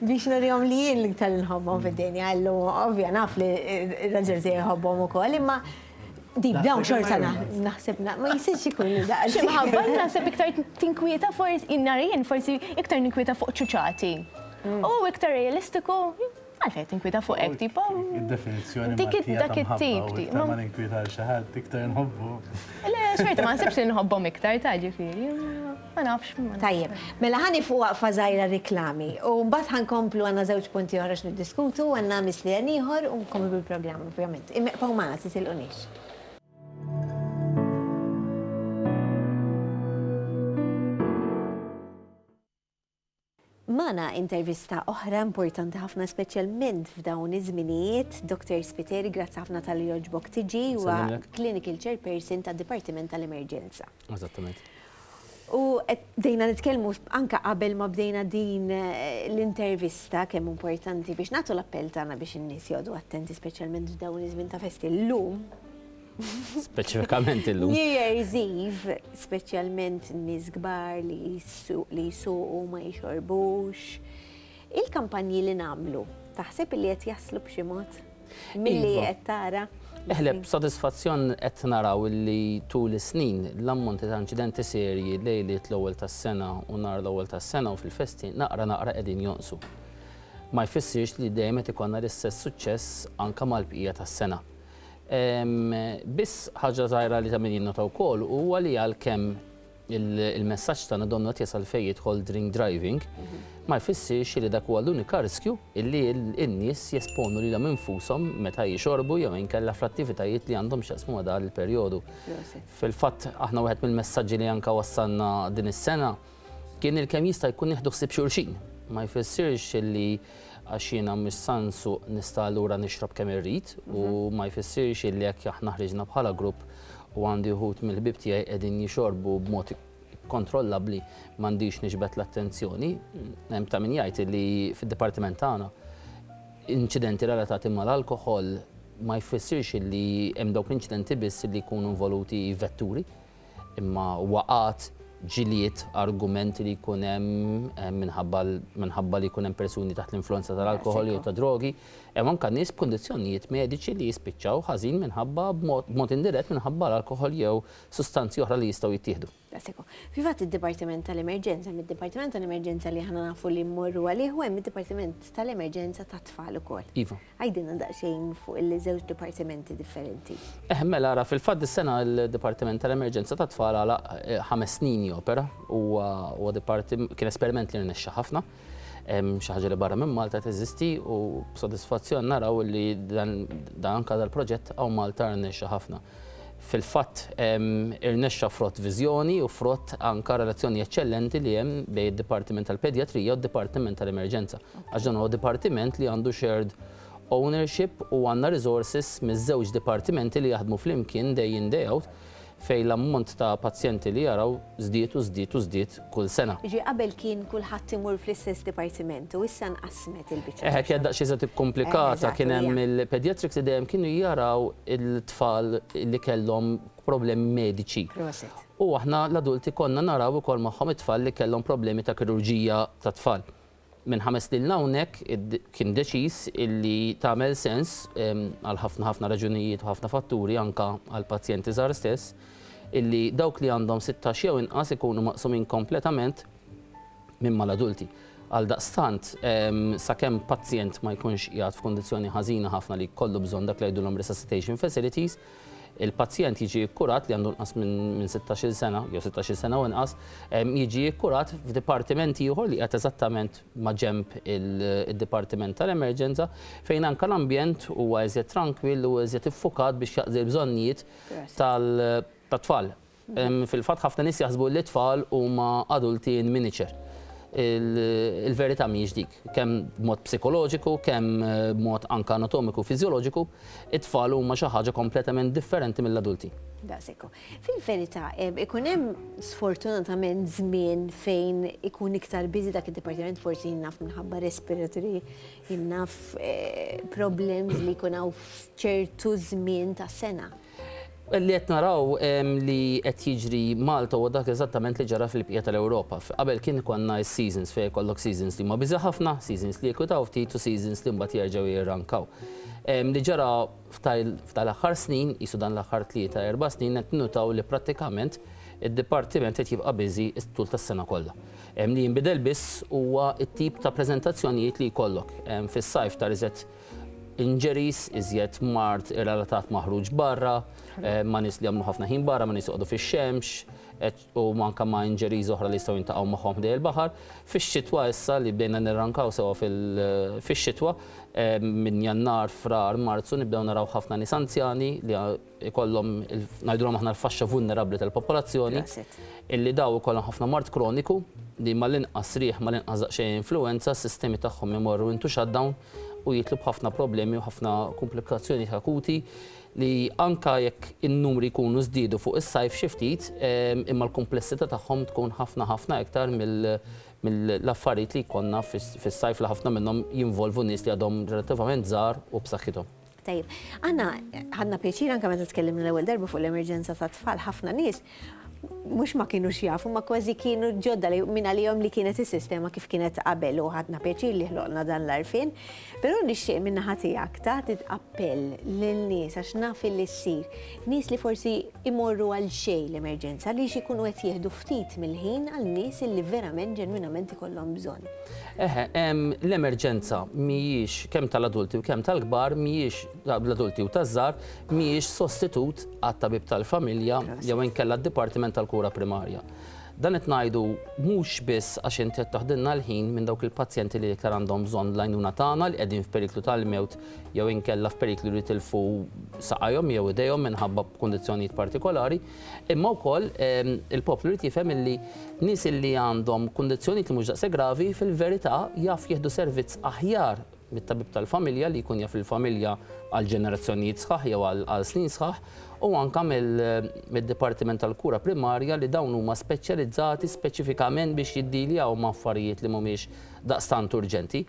Biex nurihom li jien l-iktar li nħobbhom fid-dinja, illum ovvja naf li r-raġel tiegħi jħobbhom ukoll, imma deep down xorta naħseb ma jisirx ikun li daqs. Xi mħabba li naħseb iktar tinkwieta forsi jien nara jien forsi iktar ninkwieta fuq ċuċati. U hu iktar realistiku, għalfejn qed tinkwieta fuq hekk tip u. Id-definizzjoni Maltija ta' mħabba u iktar ma ninkwieta għal xi ħadd iktar inħobbu. Le xorta ma naħsibx li nħobbhom iktar ta' ġifieri. Ma nafx. Tajjeb. Mela ħa nieqfu waqfa żgħira riklami u mbagħad ħa nkomplu għandna żewġ punti oħra x'niddiskutu, għandna mislien ieħor u nkomplu bil-programm ovvjament. Ibqgħu magħna, titilqunix. Magħna intervista oħra importanti ħafna speċjalment f'dawn iż-żminijiet, Dottor Spiteri grazzi ħafna talli jogħġbok tiġi, huwa Clinical Chairperson tad-Dipartiment tal-Emerġenza. Eżattament. U bdejna nitkellmu anke qabel ma bdejna din eh, l-intervista kemm importanti biex nagħtu l-appell tagħna biex in-nies jogħdu attenti speċjalment f'dawn iż-żmien ta' festi llum Speċifikament illum. New Year's Eve, speċjalment nies kbar li jsuqu ma jixorbux. Il-kampanji li nagħmlu, taħseb li qed jaslu b'xi mod? Milli iva. qed tara? Eħleb, sodisfazzjon qed naraw li tul is-snin l-ammonti ta' inċidenti serji lejliet l-ewwel tas-sena u nhar l-ewwel tas-sena u fil-festi naqra naqra qegħdin jonqsu. Ma jfissirx li dejjem qed ikollna l-istess suċċess anke mal-bqija tas-sena. Biss ħaġa żgħira li ta' min jinnota wkoll huwa li għalkemm il-messaġġ tagħna donnu qed jasal fejn jidħol drink driving, ma jfissirx li dak huwa l-unika riskju li n-nies jesponu lilhom infushom meta jixorbu jew inkella fl-attivitajiet li għandhom x'jaqsmu ma' dan il-perjodu. Fil-fatt aħna wieħed mill-messaġġi li anke wassalna din is-sena, Kien il kemm jista jkun nieħdu ħsieb xulxin. Ma jfissirx illi għax jiena mhux san suq nista allura nixrob kemm irrid u ma jfissirx illi jekk aħna ħriġna bħala grupp u għandi wħud mill ħbieb tiegħi qegħdin jixorbu b'mod ikkontrollabbli m'għandix niġbed l-attenzjoni. Hemm ta' min jgħid illi fid dipartiment tagħna inċidenti relatati mal alkoħol ma jfissirx illi hemm dawk l-inċidenti biss illi jkunu involuti vetturi. Imma huwa qagħad ġilied argument li jkun hemm minħabba minħabba li jkun hemm persuni taħt l-influwenza tal-alkoħol jew tad-drogi, hemm anke nies b'kundizzjonijiet mediċi li jispiċċaw ħażin minħabba b'mod b'mod indirett minħabba l-alkoħol jew sustanzi oħra li jistgħu jittieħdu. Daqshekk. Fil-fatt id-dipartiment tal-emerġenza, hemm id-dipartiment tal-emerġenza li aħna nafu li mmorru għalih u hemm id-dipartiment tal-emerġenza tat-tfal ukoll. Iva. Għidilna daqsxejn fuq il-żewġ dipartimenti differenti. Eħ, mela ara, fil-fatt dis-sena l-Dipartiment tal-Emerġenza tat-Tfal għalaq ħames snin jopera. Huwa huwa diparti kien esperiment li rnexxa ħafna. Xi ħaġa li barra minn Malta teżisti u b'sodisfazzjon naraw li dan anke dal-proġett hawn Malta rnexxa ħafna. Fil-fatt, irnexxa frott viżjoni u frott anke relazzjoni eċċellenti li hemm bejn id-Dipartiment tal-Pedjatrija u d-Dipartiment tal-Emerġenza. Għax dan huwa dipartiment li għandu shared ownership u għandna resources miż-żewġ dipartimenti li jaħdmu flimkien day in day out fejn l-ammont ta' pazjenti li jaraw żdied u żdied u żdied kull sena. Jiġifieri qabel kien kulħadd imur fl-istess dipartiment u issa nqassmet il-biċċa. Eħe, kienet daqsxejn iżjed ikkumplikata, kien hemm il-pediatrics li dejjem kienu jaraw il-tfal li kellhom problemi mediċi. Prosit. U aħna l-adulti konna naraw ukoll magħhom it-tfal li kellhom problemi ta' kirurġija tat-tfal. Minn ħames snin 'l hawnhekk kien deċiż illi tagħmel sens għal ħafna ħafna raġunijiet u ħafna fatturi anke għall-pazjenti żgħar stess illi dawk li għandhom sittax jew inqas ikunu maqsumin kompletament minn mal-adulti. Għaldaqstant, sakemm pazjent ma jkunx qiegħed f'kundizzjoni ħażina ħafna li jkollu bżonn dak li jgħidulhom resuscitation facilities, Il-pazjent jiġi kkurat li għandu inqas minn sittax-il sena, jew sittax-il sena u inqas, jiġi kkurat f'dipartiment ieħor li qiegħed eżattament maġenb id-dipartiment tal-emerġenza, fejn anke l-ambjent huwa iżjed trankwill u iżjed iffukat biex jaqdi l-bżonnijiet tat-tfal. Fil-fatt ħafna nies jaħsbu li t-tfal huma adulti in miniature. Il-verità mhijiex dik. Kemm b'mod psikoloġiku, kemm b'mod anke anatomiku u fiżjoloġiku, it-tfal huma xi ħaġa kompletament differenti mill-adulti. Daqshekk hu. Fil-verità, ikun hemm sfortunatament żmien fejn ikun iktar busy dak id-dipartiment, forsi jien naf minħabba respiratory, jien naf problems li jkun hawn f'ċertu żmien tas-sena. Li qed naraw li qed jiġri Malta huwa dak eżattament li ġara fil-bqija tal-Ewropa. Qabel kien ikollna s-seasons fejn ikollok seasons li huma biża' ħafna, seasons li jikwitaw ftit u seasons li mbagħad jerġgħu jirrankaw. Li ġara f'dal-aħħar snin, qisu dan l-aħħar tlieta, erba' snin qed ninnutaw li prattikament id-dipartiment qed jibqa' busy t-tul tas-sena kollha. Li jinbidel biss huwa t-tip ta' preżentazzjonijiet li jkollok. Fis-sajf tard iżgħet injuries, iżjed mard relatat ma' ħruġ barra, ma' nies li jagħmlu ħafna ħin barra, ma' nies joqogħdu fix-xemx, u anke ma' injuries oħra li jistgħu jiltaqgħu magħhom ħdejn il-baħar. Fix-xitwa issa li bdejna nirrankaw sewwa fil-xitwa, minn Jannar, Frar, Marzu nibdew naraw ħafna nies anzjani li, ikollhom ngħidulhom aħna l-faxxa vulnerabbli tal-popolazzjoni, illi dawn ikollhom ħafna mard kroniku li mal-inqas riħ, mal-inqas daqsxejn influwenza, s-sistemi tagħhom imorru into shutdown u jidħlu b'ħafna problemi u ħafna kumplikazzjonijiet akuti li anke jekk in-numri jkunu żdiedu fuq is-sajf xi ftit, imma l-kumplessità tagħhom tkun ħafna ħafna iktar mill-affarijiet li jkollna fis-sajf li ħafna minnhom jinvolvu nies li għadhom relattivament żgħar u b'saħħithom. Tajjeb, aħna ħadna pjaċir anke meta tkellimna l-ewwel darba fuq l-emerġenza tat-tfal ħafna nies mux ma kienu xjafu, ma kważi kienu ġodda li minna li jom li kienet il-sistema kif kienet qabel u ħadna pieċir li ħloqna dan l-arfin. Pero nixxie minna ħatijak ta' appell l-nis għax naf li s-sir. Nis li forsi imorru għal xej l-emerġenza li xikunu għet jihdu ftit mill-ħin għal nis li verament ġenwinament ikollhom bżon. Eħe, l-emerġenza mhijiex, kemm tal-adulti u kemm tal-kbar, mhijiex, tal-adulti u taż-żgħar, mhijiex sostitut għat-tabib tal-familja jew inkella d-dipartiment tal-kura primarja. Dan qed ngħidu mhux biss għax inti qed taħdilna l-ħin minn dawk il-pazjenti li l-iktar għandhom bżonn l-għajnuna tagħna li qegħdin f'periklu tal-mewt jew inkella f'periklu li jitilfu saqajhom jew idejhom minħabba kundizzjonijiet partikolari, Imma wkoll il-poplu jrid jifhem illi nies illi għandhom kundizzjonijiet li mhux daqshekk gravi fil-verità jaf jieħdu servizz aħjar mit-tabib tal-familja li jkun jaf lill-familja għal ġenerazzjonijiet sħaħ jew għal snin sħaħ u anke mid-dipartiment tal-kura primarja li dawn huma speċjalizzati speċifikament biex jiddiljaw ma' affarijiet li mhumiex daqstant urġenti.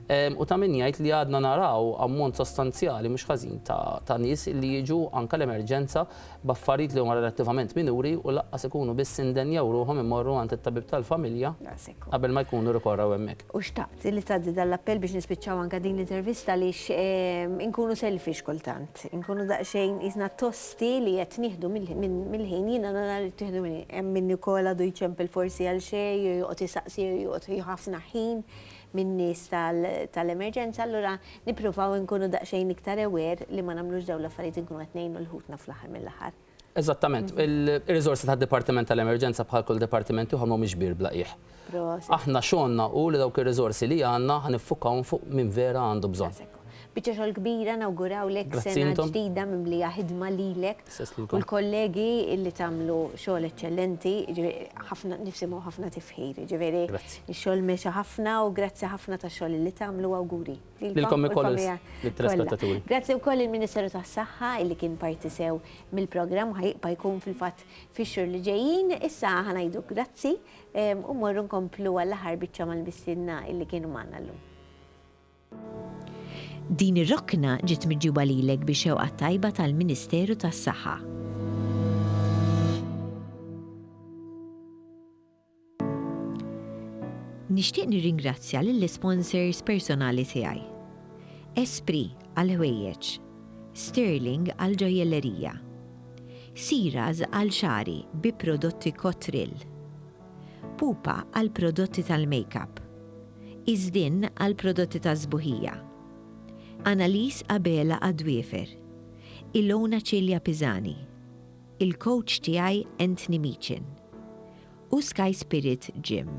U ta' min jgħid li għadna naraw ammont sostanzjali mhux ħażin ta' nies li jiġu anke l-emerġenza b'affarijiet li huma relattivament minuri u lanqas ikunu biss indenjaw ruħhom imorru għand it-tabib tal-familja qabel ma jkunu rikorrew hemmhekk. U xtaqt li tgħaddi dan l-appell biex nispiċċaw anke din l-intervista għaliex inkunu selfish kultant. Inkunu daqsxejn qisna tosti li qed nieħdu mill-ħin. Jiena nara li ttieħdu mill-ħin. Hemm min ukoll għadu jċempel forsi għal xejn jew joqgħod isaqsi jew joqgħod jieħu ħafna ħin. min-nies tal-emerġenza allura nippruvaw inkunu daqsxejn iktar aware li ma nagħmlux dawn l-affarijiet inkunu qed ngħinu lil ħutna fl-aħħar mill-aħħar. Eżattament. Ir-riżorsi tad-Dipartiment tal-Emerġenza bħal kull dipartiment ieħor m'humiex kbir bla qiegħ. Aħna xogħolna hu li dawk ir-riżorsi li għandna ħa niffukawhom fuq min vera għandu bżonn. Biċċa xogħol kbira nawgurawlek sena ġdida mimlija ħidma lilek u l-kollegi illi tagħmlu xogħol eċċellenti, ħafna nisimgħu ħafna tifħir, ġifieri x-xogħol mexa ħafna u grazzi ħafna tax-xogħol illi tagħmlu awguri. Lilkom ukoll lit-telespettaturi. Grazzi wkoll il-Ministeru tas-Saħħa illi kien parti sew mill-programm u ħajibqa' jkun fil-fatt fix-xhur li ġejjin. Issa ħa ngħidu grazzi u mmorru nkomplu għall-aħħar biċċa mal-mistiedna illi kienu magħna llum. Din ir-rokna ġiet miġjuba lilek bi xewqa tajba tal-Ministeru tas-Saħħa. Nixtieq nirringrazzja lill-isponsors personali tiegħi, Espri għall-ħwejjeġ, Sterling għall-ġojjellerija, Siras għal xagħri bi prodotti Cotril, Pupa għall-prodotti tal-makeup. Iżdin għall-prodotti tas-sbuħija. Annalies Abela għad-dwiefer. Ilona Cilia Pisani. Il-kowċ tiegħi Anthony Meechan. U Sky Spirit Gym.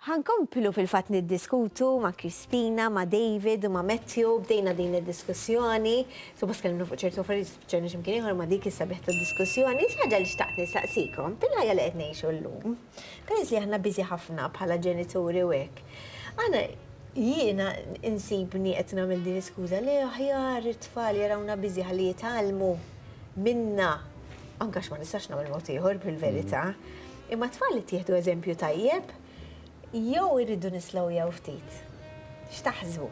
Ħa nkomplu fil-fatt niddiskutu ma' Christina, ma' David u ma' Matthew, bdejna din id-diskussjoni, suppost tkellimna fuq ċertu affarijiet spiċċajna xi mkien ieħor ma' dik is-sabiħ tad-diskussjoni, xi ħaġa li xtaqt nistaqsikom, fil-ħajja li qed ngħixu llum, peress li aħna busy ħafna bħala ġenituri u hekk, aħna, jiena insibni qed nagħmel din l-iskuża li aħjar it-tfal jarawna busy ħalli jitgħallmu minna, anke għax ma nistax nagħmel mod ieħor fil-verità, Imma t-tfal ittieħdu eżempju tajjeb jew irridu nislowjaw ftit? X'taħsbu?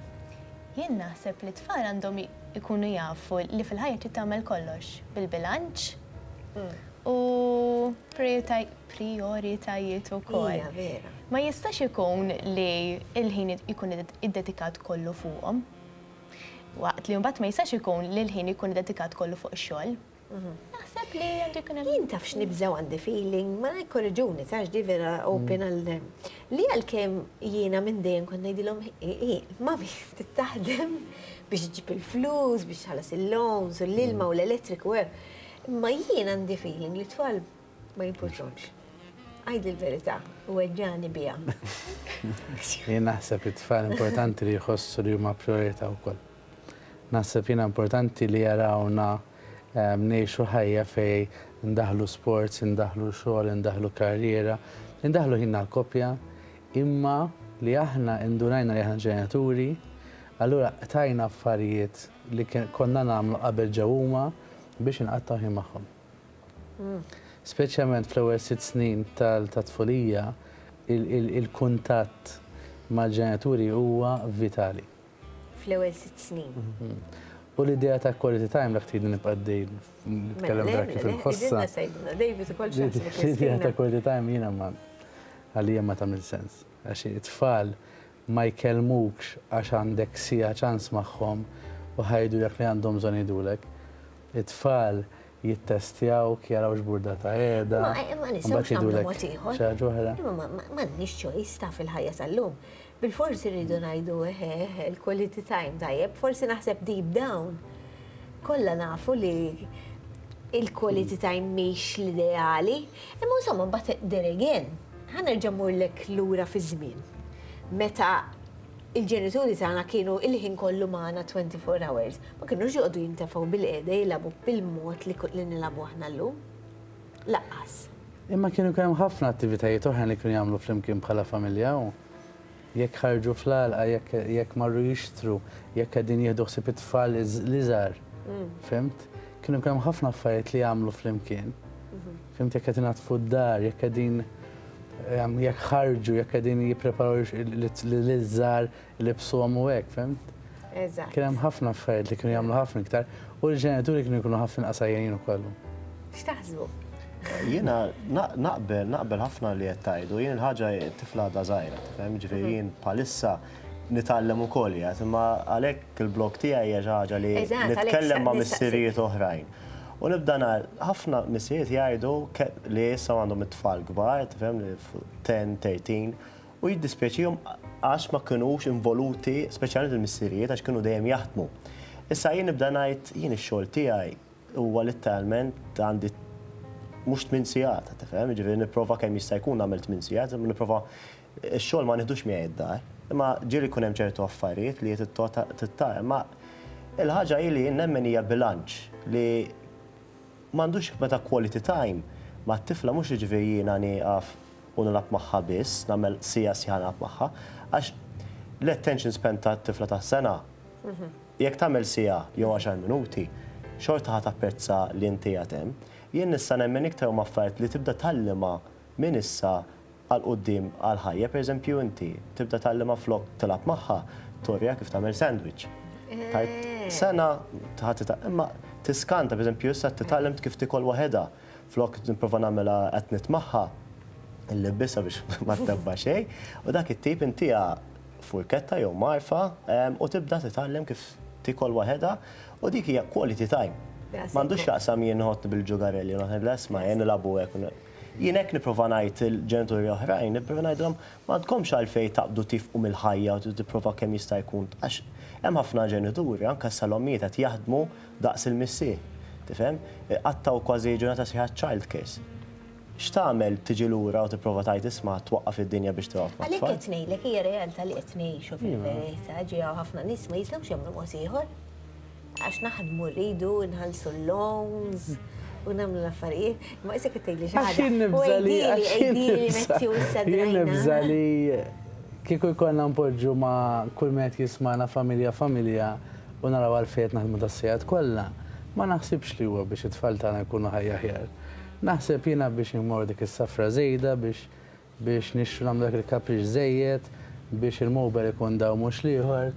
Jien naħseb li t-tfal għandhom ikunu jafu li fil-ħajja trid tagħmel kollox bil-bilanċ u prijoritajiet ukoll. Hija vera. Ma jistax ikun li l-ħin ikun iddedikat kollu fuqhom. Waqt li mbagħad ma jistax ikun li l-ħin ikun iddedikat kollu fuq ix-xogħol. Naħseb li għandu jkun hemm. Jien taf x'nibżgħu għandi feeling, ma jkorriġuni tax di vera open għal li għalkemm jiena minn dejjem kont ngħidilhom ma taħdem biex ġib il-flus, biex ħalas il-loans, u l-ilma u l-elettriku hemm. Imma jien għandi feeling li tfal ma jimportux. Għajd il-verità u għedġani bija. Jien naħseb it-tfal importanti li jħossu li huma priorità wkoll. Naħseb jiena importanti li jarawna ngħixu ħajja fejn indaħħlu sports, indaħħlu xogħol, indaħħlu karriera, indaħħlu ħin għall-koppja, imma li aħna indunajna li aħna ġenituri, allura qtajna affarijiet li konna nagħmlu qabel ġew huma biex inqattgħu ħin magħhom. Speċjalment fl-ewwel sitt snin tat-tfulija, il-kuntatt mal-ġenituri huwa vitali. fl-ewwel sitt snin. U l-idea ta' quality time dak trid nibqa' dej nitkellem mela, dak kif inħossha. L-idea ta' quality time jiena ma għalija ma tagħmel sens. Għax it-tfal ma jkellmukx għax għandek sija ċans magħhom u ħajdu dak li għandhom bżonn jgħidulek. It-tfal jittestjaw jaraw x'burda ta' qiegħda. Ma nisewx nagħmlu mod ieħor. Xi ħaġa oħra. Ma nix choice ta' fil-ħajja tal-lum. Bilfors irridu ngħidu eħe eħe l-quality time tajjeb, forsi naħseb deep down kollha nafu li l-quality time mhix l-ideali, imma insomma mbagħad then again, ħa nerġa' mmurlek lura fiż-żmien meta l-ġenituri tagħna kienu l-ħin kollu magħna twenty four hours, ma kinux joqogħdu jintefgħu bilqiegħda jilagħbu bil-mod li nilagħbu aħna llum. Lanqas. Imma kienu jkun hemm ħafna attivitajiet oħrajn li kienu jagħmlu flimkien bħala familja u jekk ħarġu fl-għalqa, jekk marru jixtru, jekk qegħdin jieħdu ħsieb it-tfal l-iżgħar. Fhimt? Kienu jkun hemm ħafna affarijiet li jagħmlu flimkien. Fhimt jekk qed inaddfu d-dar, jekk qegħdin jekk ħarġu, jekk qegħdin jippreparaw lill-iżgħar libsuhom u hekk, fimt? Eżatt. Kien hemm ħafna affarijiet li kienu jagħmlu ħafna iktar u l-ġenituri kienu jkunu ħafna inqas għajjenin ukoll. X'taħsbu? Jiena naqbel, naqbel ħafna li qed tgħidu, jien il-ħaġa tifla għadha żgħira, tifhem, ġifieri mhm. jien bħalissa nitgħallem ukoll jgħid, imma għalhekk il-blog tiegħi hija xi ħaġa li nitkellem ma' missirijiet oħrajn. U nibda nar, ħafna missirijiet jgħidu li issa għandhom it-tfal kbar, tifhem li 10, 13, u jiddispjaċihom għax ma kinux involuti, speċjalment il-missirijiet għax kienu dejjem jaħdmu. Issa jien nibda ngħid jien ix-xogħol tiegħi huwa litteralment għandi mhux tmien sigħat, qed tifhem, jiġifieri nipprova kemm jista' jkun nagħmel tmien sigħat, imma nipprova x-xogħol ma nieħdux miegħi d-dar. Imma ġieli jkun hemm ċertu affarijiet li tittar, imma il-ħaġa hi li jien nemmen hija bilanċ li M'għandux jekk meta quality time mat-tifla mhux jiġifieri jiena nieqaf u nilgħab magħha biss, nagħmel siegħa siegħa nilgħab magħha, għax l-attention span ta' tifla ta' sena jekk tagħmel siegħa jew għaxar minuti xorta ħa tapprezza li int qiegħed hemm. Jien nista' nemmen iktar huma affarijiet li tibda tgħallimha minn issa għal quddiem għal ħajja, pereżempju inti tibda tgħallimha flok tilgħab magħha turiha kif tagħmel sandwich. Tgħid sena ħadd titgħallem, imma tiskanta pereżempju issa titgħallem kif tikol waħedha flok nipprova nagħmilha qed nitt magħha nlibbisha biex ma ttebba xejn, u dak it-tip intiha furketta jew marfa u tibda titgħallem kif tikol waħedha u dik hija quality time. M'għandux x'jaqsam jien nħottni bil-ġugarelli, naħseb lesma jien nilagħbu hekk. Jien hekk nipprova ngħid il-ġenituri oħrajn, nipprova ngħidilhom m'għandkomx għalfejn taqbdu tifqu mill-ħajja u tipprova kemm jista' jkun għax hemm ħafna ġenituri, anke issa l-ommijiet qed jaħdmu daqs il-missier. Tifhem? Iqattgħu kważi ġurnata sħiħa childcase. X'tagħmel tiġi lura u tipprova tgħid isma' twaqqaf id-dinja biex tilgħob mat-tfal? Għalhekk qed ngħidlek hija realtà li qed ngħixu fil-verità, ġiegħu ħafna nies ma jistgħux jagħmlu mod ieħor. Għax naħdmu rridu nħallsu l-loans u nagħmlu l-affarijiet. Ma isek qed tgħidli xi ħaġa. Għax nibża li nibża li kieku jkollna npoġġu ma' kull min qed jismana familja familja u naraw għalfejn qed naħdmu das-sigħat kollha, ma naħsibx li huwa biex it-tfal tagħna jkunu ħajja aħjar. Naħseb jiena biex immorr dik is-safra żejda biex biex nixtru nagħmlu dak il-kapriċċ żejjed biex il-mowber ikun daw mhux l-ieħor.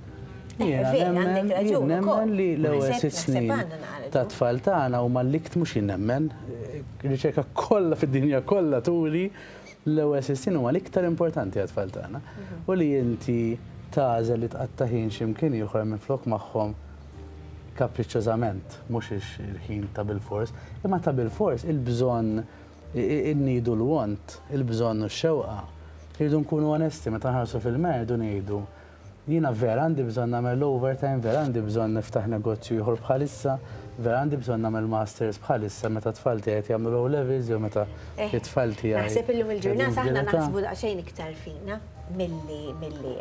Jiena nemmen, jien nemmen li l-ewwel sitt snin tat-tfal tagħna huma l-ikt mhux jien nemmen. Riċerka kollha fid-dinja kollha turi l-ewwel sitt snin huma l-iktar importanti għat-tfal tagħna. Mhm. U li inti tażel li tqatta' ħin x'imkien ieħor minflok magħhom kapriċċożament, mhux il-ħin ta' bil-fors, imma ta' bil-fors il-bżonn Innidu l-want, il-bżonn u x-xewqa. Irridu nkunu onesti meta nħarsu fil-merħed u ngħidu, Jiena vera għandi bżonn nagħmel l-overtime, vera għandi bżonn niftaħ negozju ieħor bħalissa, vera għandi bżonn nagħmel masters bħalissa meta t-tfal tiegħi qed jagħmlu l-O-Levels jew meta t-tfal tiegħi qegħdin f'dil età. Naħseb illum il-ġurnata aħna naħsbu daqsxejn iktar fina milli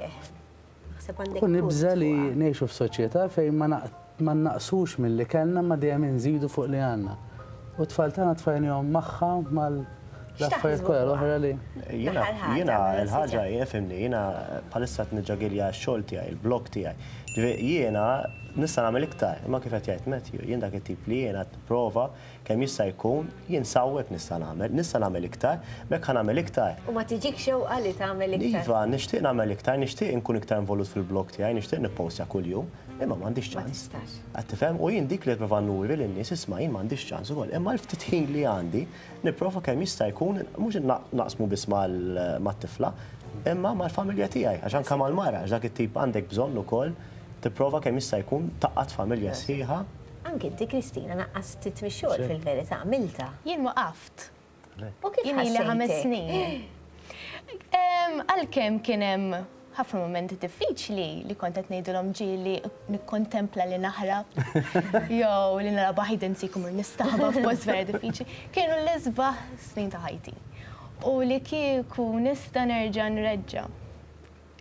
U nibża' li ngħixu f'soċjetà fejn ma nnaqqsux milli kellna imma dejjem inżidu fuq li għandna. U t-tfal tagħna tfajnihom magħha u mal-affarijiet kollha l-oħra li. Jiena, jiena l-ħaġa hi, ifhimni, jiena bħalissa qed niġġagilja x-xogħol tiegħi, il-blog tiegħi. Jiena nista' nagħmel iktar, imma kif qed jgħid Matthew, jien dak it-tip li jiena qed nipprova Kemm jista' jkun, jien sa hawnhekk nista' nagħmel, nista' nagħmel iktar, b'hekk ħa nagħmel iktar. U ma tiġikx xewqa li tagħmel iktar? Iva, nixtieq nagħmel iktar, nixtieq inkun iktar involut fil-blog tiegħi, nixtieq nippostja kuljum, imma m'għandix ċans. Ma tistax. Qed tifhem? U jien dik li qed nipprova nuri lin-nies, isma' jien m'għandix ċans ukoll, imma l-ftit ħin li għandi nipprova kemm jista' jkun mhux naqsmu biss mat-tifla, imma mal-familja tiegħi, għax anke mal-mara, għax dak it-tip għandek bżonn ukoll tipprova kemm jista' jkun tgħaqqad familja sħiħa. Anke inti Kristina naqqastit mix-xogħol fil-verità, għamiltha. Jien waqaft. U kif ħassejtek? Jien ilha ħames snin. Għalkemm kien hemm ħafna mumenti diffiċli li kont qed ngħidilhom ġieli nikkontempla li naħrab jew li nara baħid insik imur nistaħba f'post vera diffiċli, kienu l-isbaħ snin ta' ħajti. U li kieku nista' nerġa' nreġġa'.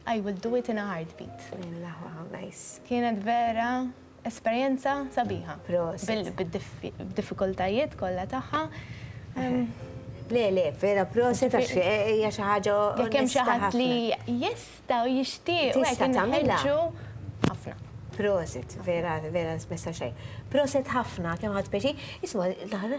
I will do it in a heartbeat. Kienet vera Esperjenza sabiħa. Prosit. Bid-diffikultajiet kollha tagħha. Le, le, vera proset għax hija xi ħaġa onesta. Jekk hemm xi ħadd li jista' u jixtieq tista' tagħmilha. Ħafna. Prosit, vera, vera mista' xejn. Prosit ħafna kemm ħadt pjaċir. Isma' l-aħħar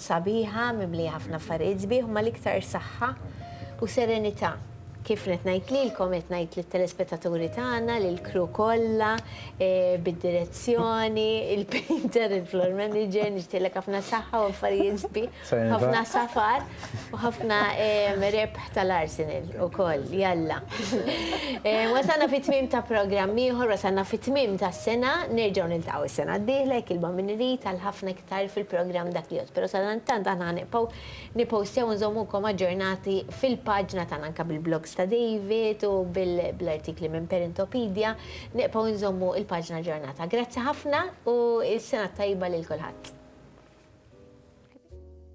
Sabiħa, mimlija ħafna affarijiet sbieħ u mal-iktar saħħa u serenità. Kif qed ngħid lilkom, qed ngħid lit-telespettaturi tagħna, lill-crew kollha, bid-direzzjoni, il-painter, il-floor manager, nixtieqlek ħafna saħħa u affarijiet sbieħ, ħafna safar u ħafna rebħ tal-Arsenal ukoll, jalla. Wasalna fit-tmiem ta' programm ieħor, wasalna fit-tmiem tas-sena, nerġgħu niltaqgħu s-sena d-dieħla jekk il-Bammini jrid għal ħafna. sar fil-programm dak li jgħodd, pero sadanittant aħna ħa nibqgħu nippostjaw u nżommukom aġġornati fil-paġna tagħna anke bil-blogs ta' David u bl-artikli minn Parentopedja, nibqgħu nżommu l-paġna aġġornata. Grazzi ħafna u s-sena t-tajba lil kulħadd.